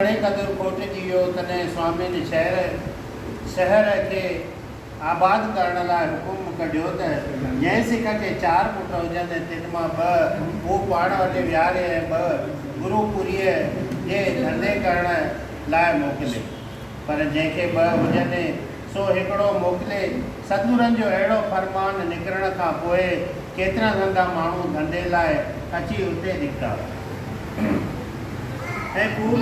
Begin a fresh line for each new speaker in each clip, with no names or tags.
گهڻي قدر کوٽجي ويو، تڏهن سوامين شهر، Sehar، کي آباد ڪرڻ لاء حڪم ڪڍيو ته جنهن سک کي چار پٽ هجن ۽ تن مان ٻه هو پاڻ وٽ ويهاري ۽ ٻه گرو پوريء جي ڌنڌي ڪرڻ لاء موڪلي، پر جنهن کي ٻه هجن، سو هڪڙو موڪلي. سدگرن جو اهڙو فرمان نڪرڻ کان پوء ڪيترن هنڌان ماڻهو ڌنڌي لاء اچي اتي نڪتا ۽ خوب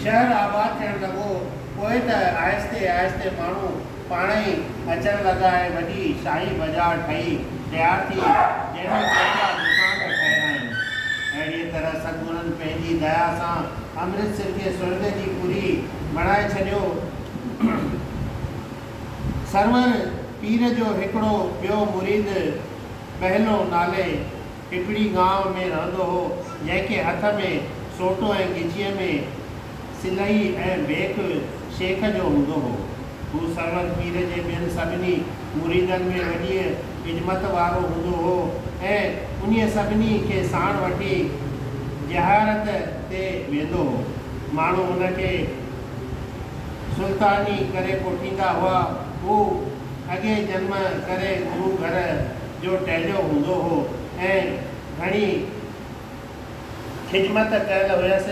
شهر آباد ٿيڻ لڳو. پوء ته آهستي آهستي ماڻهو پاڻ ئي اچڻ لڳا ۽ وڏي شاهي بازار ٺهي تيار ٿي، جنهن ۾ ڪيترا دوڪان به ٺهيا آهن. اهڙيء طرح سدگرن پنهنجي ديا سان امرتسر کي سرڳ جي پوري بڻائي ڇڏيو. سرور پير جو هڪڙو ٻيو مريد ٻهلو نالي هڪڙي گانء ۾ رهندو هو، جنهن کي هٿ ۾ سوٽو ۽ ڳجهيء ۾ سلهي ۽ بيڪ شيخ جو هوندو هو. هو سرور پير جي ٻين سڀني مريدن ۾ وڏيء عظمت وارو هوندو هو ۽ انهيء سڀني کي ساڻ وٺي زيارت تي ويندو هو. ماڻهو هن کي سلطاني ڪري ڪوٺيندا هئا. هو اڳئين جنم ڪري گرو گهر جو ٽهليو هوندو هو ۽ گهڻي خدمت ڪيل هيس،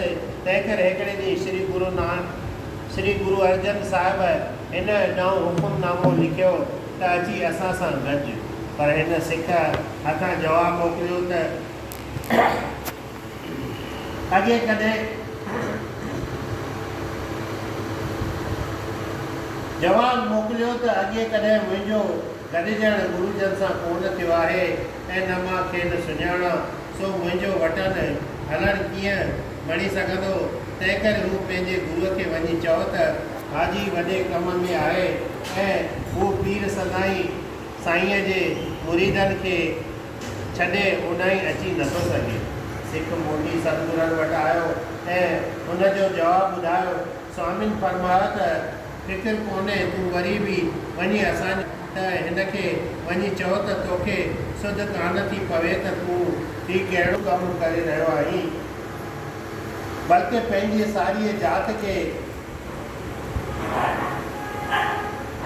تنهنڪري هڪڙي ڏينهن شري گرو نانڪ شري گرو ارجن صاحب هن ڏانهن حڪم نامو لکيو ته اچي اسان سان گڏج، پر هن سک هٿان جواب موڪليو ته. ڪڏهن ڪڏهن جواب موڪليو ته اڳي ڪڏهن منهنجو گڏجڻ گرو جن سان ڪونه ٿيو آهي ۽ نه مان کين سڃاڻان، سو منهنجو وٽن هلڻ ڪيئن بڻي سگهندو؟ تنهنڪري هو پنهنجي گرو کي وڃي چئو ته حاجي وڏي ڪم ۾ آهي ۽ هو پير سدائين سائينء جي مريدن کي ڇڏي اوڏانهن اچي نٿو سگهي. سک موٽي ستگرن وٽ آيو ۽ ان جو جواب ٻڌايو. سوامين فرمايو ته فڪر ڪونهي تون وري به وڃي اسان جي ته هن کي وڃي چئو ته توکي سڌ ڪانه ٿي پوي ته تون هي ڪهڙو ڪم ڪري رهيو آهين بلڪه پنهنجي ساريء ذات کي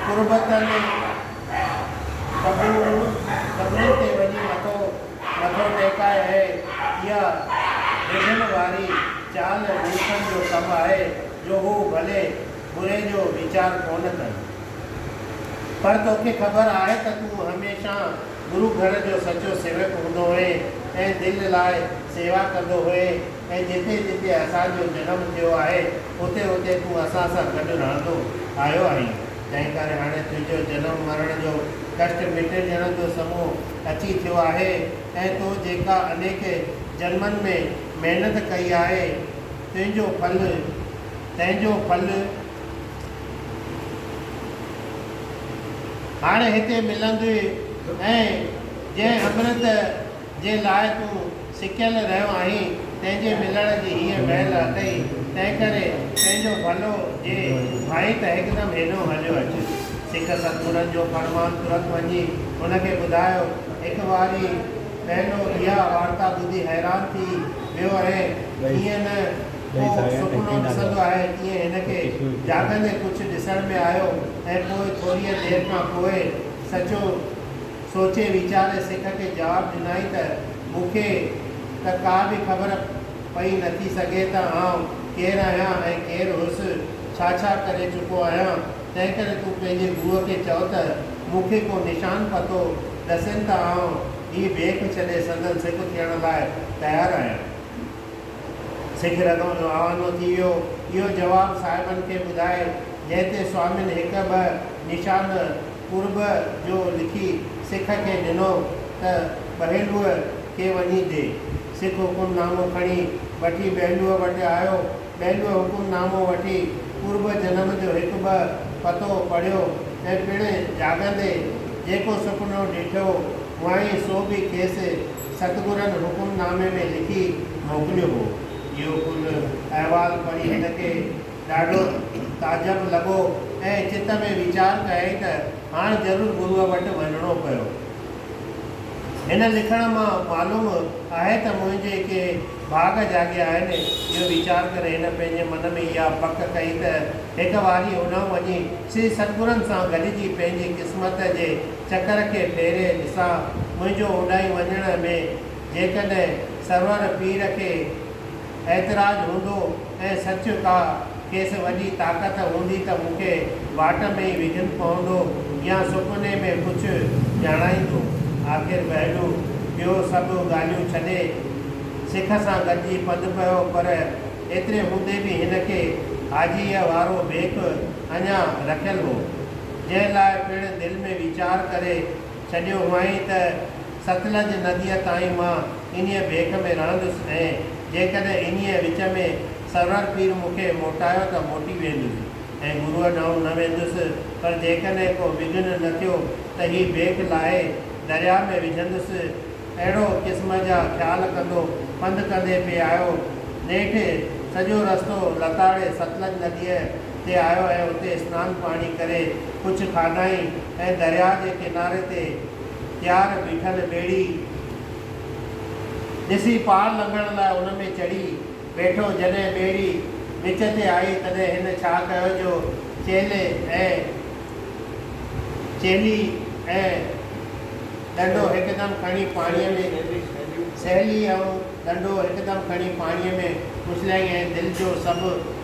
تربتن قبرن تي وڃي مٿو ٽيڪائي اهي. اها ڊڄڻ واري چال ملڪن جو ڪم آهي جو هو ڀلي بري جو ويچار ڪونه ڪن. پر توکي خبر آهي ته تون هميشه گرو گهر جو سچو سيوڪ هوندو هئين ۽ دل لاء سيوا ڪندو هئين. ۽ جتي جتي اسان جو جنم ٿيو آهي، اتي اتي تون اسان سان گڏ رهندو آيو آهين، تنهن ڪري هاڻي تنهنجو جنم مرڻ جو ڪشٽ مٽي ڄڻن جو سمون اچي ٿيو آهي ۽ تو جيڪا انيڪ جنمن ۾ محنت ڪئي آهي، تنهنجو ڦل تنهنجو ڦل هاڻي هتي ملندوء ۽ جنهن امرت جنهن لاء تون سڪيل رهيو آهين، تنهن جي ملڻ جي هيء ويل اٿئي، تنهنڪري پنهنجو ڀلو جي ڀائين ته هڪدم هيڏهون هليو اچ. سک ستپورن جو فرمان ترت وڃي هن کي ٻڌايو. هڪ واري ٻيلو اها وارتا ٻڌي حيران ٿي ويو ۽ جيئن نه ڪو سپنو ڏسندو آهي، تيئن هن کي جاڳندي ڪجهه ڏسڻ ۾ آيو ۽ پوء ٿوريء دير کان پوء سچو سوچي ويچاري سک کي جواب ڏنائين ته، مون کي ته ڪا به خبر پئي نٿي سگهي ته آئون ڪير آهيان ۽ ڪير هوس، ڇا ڇا ڪري چڪو آهيان، تنهنڪري تون پنهنجي گوء کي چئو ته مون کي ڪو نشان پتو ڏسين ته آئون هي بيک ڇڏي سندن سک ٿيڻ لاء تيار آهيان. سک رڳون جو آوانو ٿي ويو. اهو جواب صاحبن کي ٻڌائي، جنهن تي سوامين هڪ ٻه نشان قرب جو لکي سک کي ڏنو ته ٻهيلوء کي وڃي ڏي. سک حڪم نامو کڻي وٺي ٻهيلوء وٽ آيو. ٻهيلوء حڪم نامو وٺي قرب جنم جو هڪ ٻه پتو پڙهيو ۽ پڻ جاڳندي جيڪو سپنو ڏٺو هئائين سو به کيس ستگرن حڪم نامي ۾ لکي موڪليو هو. اهو ڪل احوال پڙهي هن کي ڏاڍو تعجب لڳو ۽ چت ۾ ويچار ڪيائين ته هاڻ ضرور گروء وٽ وڃڻو پيو. هن لکڻ مان معلوم آهي ته منهنجي ڪي ڀاڳ جاڳيا آهن. اهو ويچار ڪري هن پنهنجي من ۾ اها پڪ ڪئي ته هڪ واري هوڏانهن وڃي سري ستگرن سان گڏجي پنهنجي قسمت جي چڪر کي ڦيري ڏسان. منهنجو هوڏانهن وڃڻ ۾ جيڪڏهن سرور پير کي اعتراض هوندو ۽ سچ ڪا کيس وڏي طاقت هوندي ته مون کي واٽ ۾ ئي وگهن پوندو يا سپني ۾ ڪجهه ڄاڻائيندو. آخر بهلو ٻيو سڀ ڳالهيون ڇڏي سک سان گڏجي پنڌ پيو پر ايتري هوندي به هن کي حاجيء وارو ڀيڪ اڃا رکيل هو جنهن لاء پڻ دل ۾ ويچار ڪري ڇڏيو هئائين ته ستلج نديء تائين مان انهيء ڀيڪ ۾ رهندس ۽ جيڪڏهن انهيء وچ ۾ سرور پير مون کي موٽايو ته موٽي ويندس ۽ گروء ڏانهن نه ويندس، پر جيڪڏهن ڪو وگهن نه ٿيو ته هي ڀيڪ لاهي درياء ۾ وجهندس. اهڙو قسم جا خيال ڪندو پنڌ ڪندي پئي آيو. نيٺ سڄو رستو لتاڙي ستلج نديء تي آيو ۽ اتي اسنان پاڻي ڪري ڪجهه کاڌائين ۽ درياء جي ڪناري تي تيار بيٺل ٻيڙي ڏسي پار لنگهڻ لاء ان ۾ چڙهي ويٺو. جڏهن ٻيڙي وچ تي آئي تڏهن هن ڇا ڪيو جو چيلي ۽ چيلي ۽ ڏنڊو هڪدم کڻي پاڻيء ۾، سهيلي آئون ڏنڊو هڪدم کڻي پاڻيء ۾ اڇليائين ۽ دل جو سڀ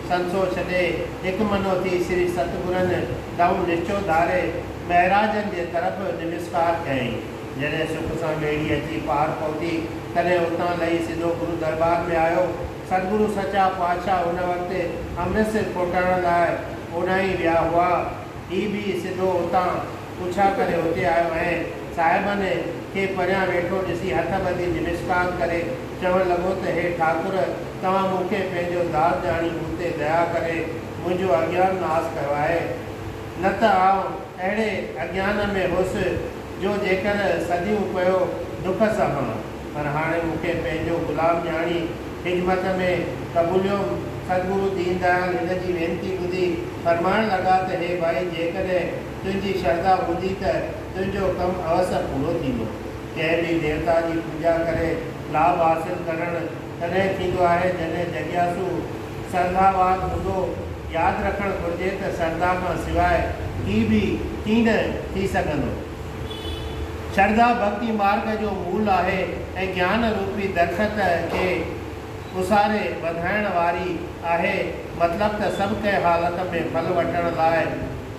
سنسو ڇڏي، هڪ منو ٿي سري ستگرن ڏانهن نشچو ڌاري، مهراجن جي طرف نمسڪار ڪيائين. جڏهن سک سان ٻيڙي اچي پار پهتي، تڏهن اتان لهي سڌو گرو درٻار ۾ آيو. ستگرو سچا پاتشاهه ان وقت امرتسر کوٽائڻ لاء اوڏانهين ويا هئا. هي به سڌو اتان. پڇا ڪري اتي آيو ۽ صاحبن کي پريان ويٺو ڏسي هٿ ٻڌي نمسڪار ڪري چوڻ لڳو ته هي ٺاڪر توهان مون کي پنهنجو ذات ڄاڻي مون تي ديا ڪري منهنجو اگيان ناس ڪيو آهي نه ته آئون اهڙي اگيان ۾ هوس جو جيڪر صديون پيو دک سهان پر هاڻي مون کي پنهنجو غلام ڄاڻي خدمت ۾ قبوليوم سدگرو دين ديال هن جي وينتي ٻڌي فرمائڻ لڳا ته هي ڀائي جيڪڏهن تنهنجي شرڌا هوندي ته تنهنجو ڪم اوس پورو ٿيندو. ڪنهن به ديوتا جي پوڄا ڪري لاڀ حاصل ڪرڻ تڏهن ٿيندو آهي جڏهن جڳياسو سرڌاوان هوندو. ياد رکڻ گهرجي ته سرڌا کان سواء ڪي به ڪين ٿي سگهندو. شرڌا ڀڳتي مارگ جو مول آهي ۽ گيان روپي درخت کي اوساري وڌائڻ واري آهي. مطلب ته سڀ ڪنهن حالت ۾ ڦل وٺڻ لاء.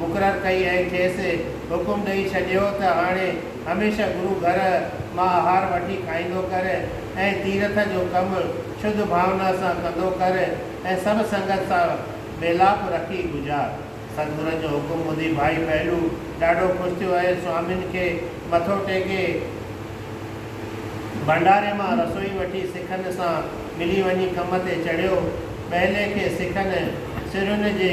مقرر ڪئي ۽ کيس حڪم ڏئي ڇڏيو ته هاڻي هميشه گرو گهر مان آهار وٺي کائيندو ڪر ۽ تيرٿ جو ڪم شڌ ڀاونا سان ڪندو ڪر ۽ سڀ سنگت سان ميلاپ رکي گذار. سدگرن جو حڪم ٻڌي ڀائي ڦهلو ڏاڍو خوش ٿيو ۽ سوامين کي مٿو ٽيڪي ڀنڊاري مان رسوئي وٺي سکن سان ملي وڃي ڪم تي چڙهيو. ٻهلي کي سکن سرهين جي.